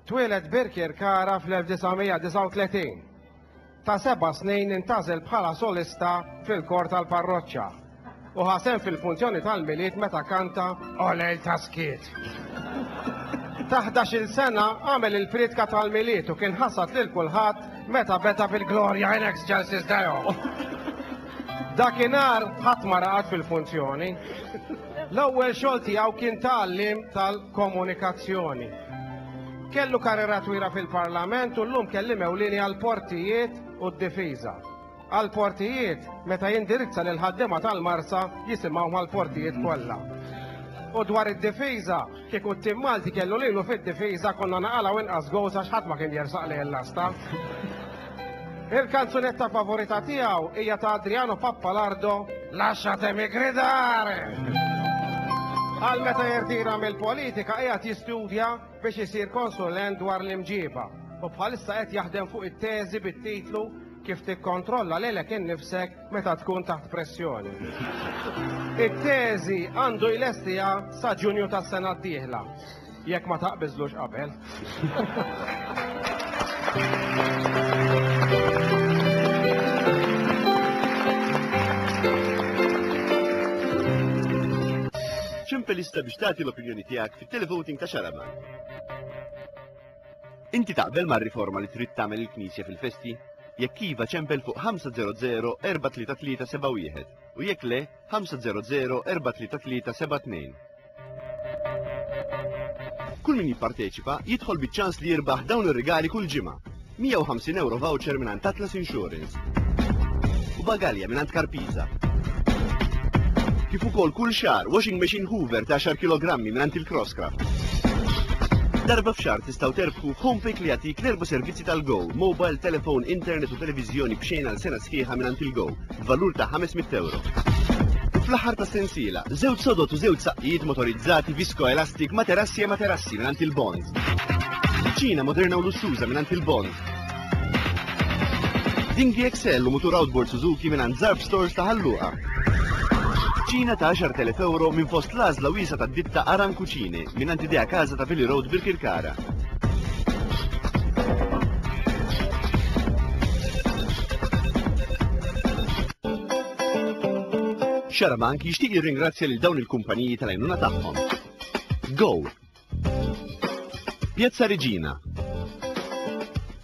Twieled Birkir Kara fl-1939. Ta' seba' snin intażel bħala solista fil-kor tal-parroċċa u ħasem fil-funzjoni tal-milied meta kanta Olejl ta' Skiet. Ta' 11-il sena għamel il-prietka tal-milied u kien ħassad lil kulħadd meta beda bil-Gloria in Excelsis Deo. Dakinhar ħadd ma raqad fil-funzjoni. L-ewwel xogħol tiegħu kien ta' għalliem tal-komunikazzjoni. Kellu karriera twila fil-Parlament u llum kelliem ewlieni għall-portijiet u d-difiża. Għall-portijiet, meta jindirizza lill-ħaddiema tal-Marsa jisimgħu mal-portijiet kollha. U dwar id-difiża, Kieku t-tim Malti kellu lilu fid-difiża konna naqalgħu inqas goals għax ħadd ma kien jersaq lejn l-għasta. Il-kanzunetta favorita tiegħu hija ta' Adriano Pappalardo, Lasciatemi gridare! Għal meta jirtira mill-politika qiegħed jistudja biex isir konsulent dwar l-imġiba u bħalissa qed jaħdem fuq it-teżi bit-titlu Kif tikkontrolla lilek innifsek meta tkun taħt pressjoni. It-teżi għandu jlestiha sa Ġunju tas-sena d-dieħla, jekk ma taqbiżlux qabel. Ċempel lista biex tagħti l-opinjoni tiegħek fit-televoting ta' Xaraman. Inti taqbel mar-riforma li trid tagħmel il-Knisja fil-festi? Jekk iva ċempel fuq 500-43371 u jekk le 500-43372. Kull min jipparteċipa jidħol biċ-ċans li jirbaħ dawn ir-rigali kull ġimgħa. 150 euro voucher minn Atlas Insurance. Bagalja mingħand Karpiza. Kif ukoll kull xahar washing machine Hoover ta' 10 kilogrammi mingħand il-Crosscraft. Darba f'xar tistgħu terbħu f'Homepick li jagħtik l-erba' servizzi tal-Go, mobile, telefon, internet u televiżjoni b'xejn għal sena sħiħa mingħand il-Go, b'valur ta' 500 euro. Fl-aħħar ta' sensiela, żewġ sodot u żewġ saqqijiet motorizzati visko elastik materassi e materassi mingħand il-Bond. Ċina moderna u lussuża mingħand il-Bond. Dinghy XL u mutur outboard Suzuki mingħand Zarb Stores ta' Ħal Luqa. Ċina ta' 10,000 euro minn fost l-għażla wiesgħa tad-ditta Aran Cucine mingħand Idea Casa ta' Vili Road Birkirkara. Xarabank jixtieq jirringrazzja lil dawn il-kumpaniji tal-għajnuna tagħhom. Go! Piazza Regina.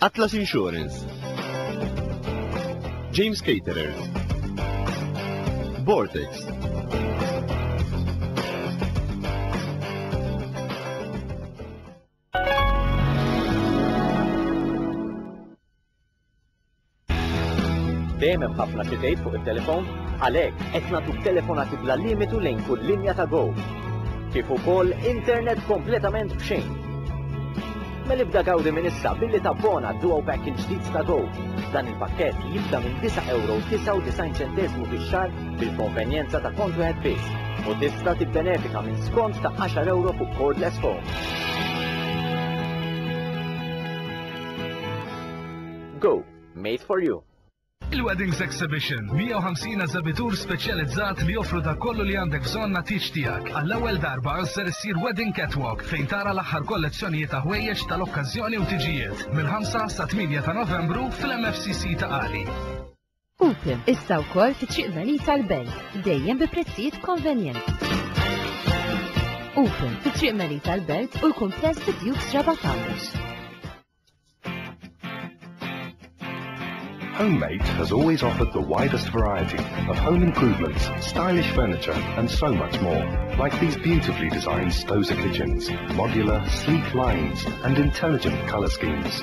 Atlas Insurance. James Caterers. Vortex. Dejjem hemm ħafna xi tgħid fuq it-telefon, għalhekk qed nagħtuk telefonati bla limitu lejn kull linja ta' Go. Kif ukoll internet kompletament b'xejn. Mela ibda gawdi minn issa billi tabbona duo pack il-ġdid ta' Go. Dan il-pakkett jibda minn 9 euro 99 ċentesmu fix-xahar bil-konvenjenza ta' kont wieħed biss u tista' tibbenefika minn skont ta' 10 euro fuq cordless phone. Go! Made for you! Il-Weddings Exhibition, 150 eżabitur speċjalizzat li joffru dak kollu li għandek bżonn għat-tieġ tiegħek. Għall-ewwel darba ser issir Wedding Catwalk fejn tara l-aħħar kollezzjonijiet ta' ħwejjeġ tal-okkażjoni u tiġijiet mill-5 sa 8 ta' Novembru fl-MFCC ta' Qali. Putin, issa wkoll fi triq Melita l-Belt, dejjem bi prezzijiet konvenjenti. Putin, fi triq Melita l-Belt u l-kumpless fi Dukes Raba Towers. Homemate has always offered the widest variety of home improvements, stylish furniture, and so much more, like these beautifully designed Stoza kitchens, modular, sleek lines, and intelligent color schemes.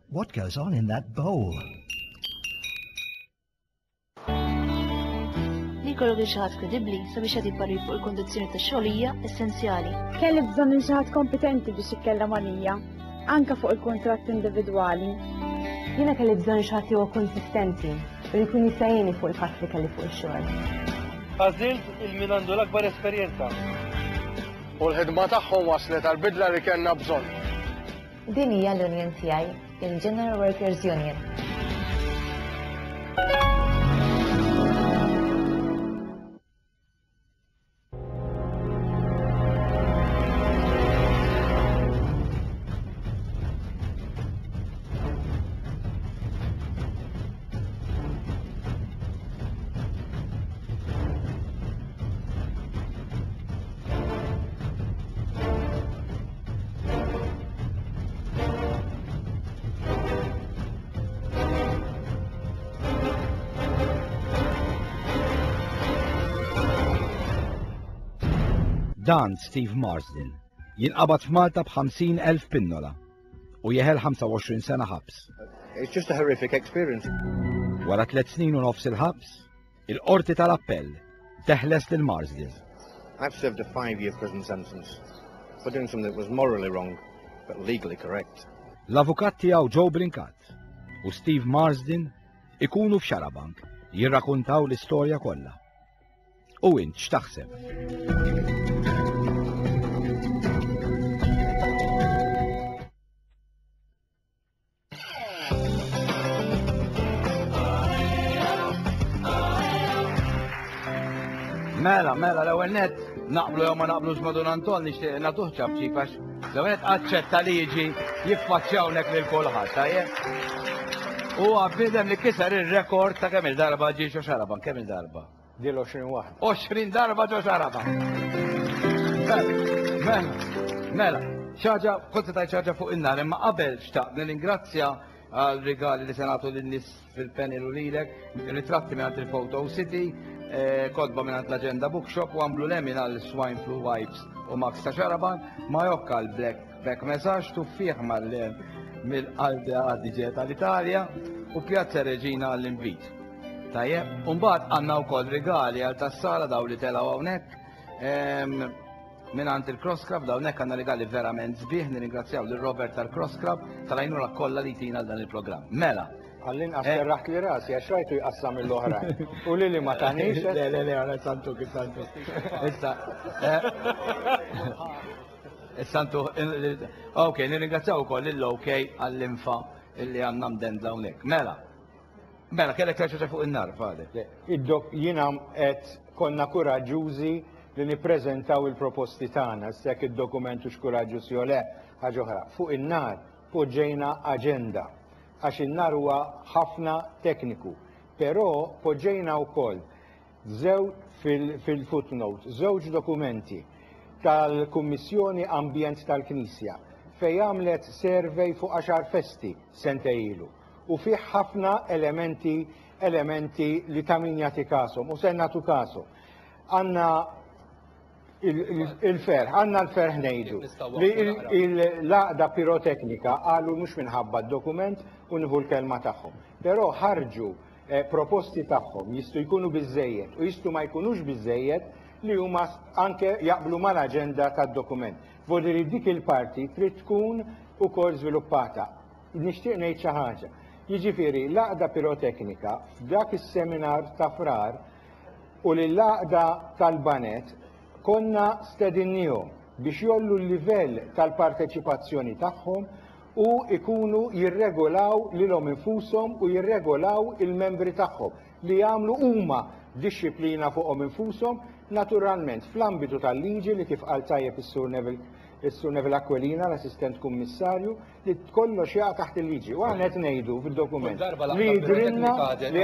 What goes on in that bowl? Li kollu din xaħat kredibli sabiex għad jibbarri fuq il-kondizjoni ta' xogħolija essenzjali. Kelli bżonn il xaħat kompetenti biex ikkella manija, anka fuq il-kontratt individwali. Jiena kelli bżonn xaħat huwa konsistenti u li jkun jisajjeni fuq il-fatt li kelli fuq il-xogħol. Għażilt il-min għandu l-akbar esperjenza. U l-ħidma tagħhom waslet għal bidla li kellna bżonn. Din hija l-union tiegħi, il-General Workers Union. Dan Steve Marsden jinqabad f'Malta b'50,000 pinnola u jeħel 25 sena ħabs. It's just a horrific experience. Wara tliet snin u nofs il-ħabs, Il-Qorti tal-Appell teħles lil Marsden. I've served a five-year prison sentence for doing something that was morally wrong but legally correct. L-avukat tiegħu Joe Brinkat u Steve Marsden ikunu f'Xarabank jirrakuntaw l-istorja kollha. U int x'taħseb? Mela, mela, l-ewwel net, naqblu jew ma naqblux ma' Dun Anton nixtieq nagħtuh ċabċib għax l-ewwel net aċċetta li jiġi jiffaċċjawnek lil kulħadd, tajjeb. Huwa bniedem li kiser ir-rekord ta' kemm il-darba ġie xi xaraban, kemm il-darba. Dil 20 waħda. 20 darba ġo xaraba. Mela, mela, xaġa, konti tajt xaġa fuq in-nar, imma qabel xtaqt nirringrazzja għal rigali li senatu l-nis fil-panel u lilek, ritratti minn il-Photo City, eh, kodba minn l-Agenda Bookshop u għamlu lemin għal Swine Flu Wipes u Max ta' Xaraban, ma jokka l-Black Back Message tuffiħ mal-lem mill-Alde Adige tal-Italja u Pjazza Reġina għall-invit. Tajjeb, u mbagħad għandna wkoll rigali għal tas-sala daw li telgħu hawnhekk. Ehm, Minn għand il-Cross Club dawn hekk għandna rigali verament sbieħ nirringrazzjaw lil Robert tal-Cross Club tal-għajnuna kollha li tina dan il-programm. Mela, Għallin għas eh. serraħt li rasi, għax rajtu jqassam il oħra U li li ma tanix. Eh? Le, le, le, għana santu, santu. Issa. Eh. Santu, ok, nirringrazzjaw u koll l-ok għall-infa illi għanna mdendla unek. Mela, Mela, kellek terġa' fuq in-nar fadek. Id-dok jiena qed konna kuraġġużi li nippreżentaw il-proposti tagħna, issa jekk id-dokument hux kuraġġuż jew le ħaġa oħra. Fuq in-nar poġġejna aġenda għax in-nar huwa ħafna tekniku, però poġġejna wkoll Żew, fil-footnote, żewġ dokumenti tal-Kummissjoni Ambjent tal-Knisja fejn għamlet survey fuq għaxar festi sentej ilu u fih ħafna elementi elementi li ta' min jagħti kashom u se nagħtu kashom. Għandna Il-ferħ, għanna l-ferħ nejdu li l-laqda piroteknika għalu mux minħabba d-dokument u nħu l-kelma taħħom. Pero ħarġu eh, proposti taħħom jistu jkunu bizzejiet u jistu ma jkunux bizzejiet li huma anke jaqblu mal-agenda tad-dokument. Vodiri dik il-parti trid tkun ukoll żviluppata. Nixtieq ngħid xi ħaġa. Jiġifieri l-għaqda piroteknika f'dak is-seminar ta' frar u lill-Għaqda tal-Baned konna stedinniehom biex jgħollu l-livell tal-parteċipazzjoni tagħhom u jkunu jirregolaw lilhom infushom u jirregolaw il-membri tagħhom li jagħmlu huma dixxiplina fuqhom infushom, naturalment fl-ambitu tal-liġi li kif qal tajjeb is-Sur Neville is-Sur Neville Aquilina, l-Assistent Kummissarju, li kollox jaqa' taħt il-liġi. U aħna qed ngħidu fid-dokument li jidhrilna li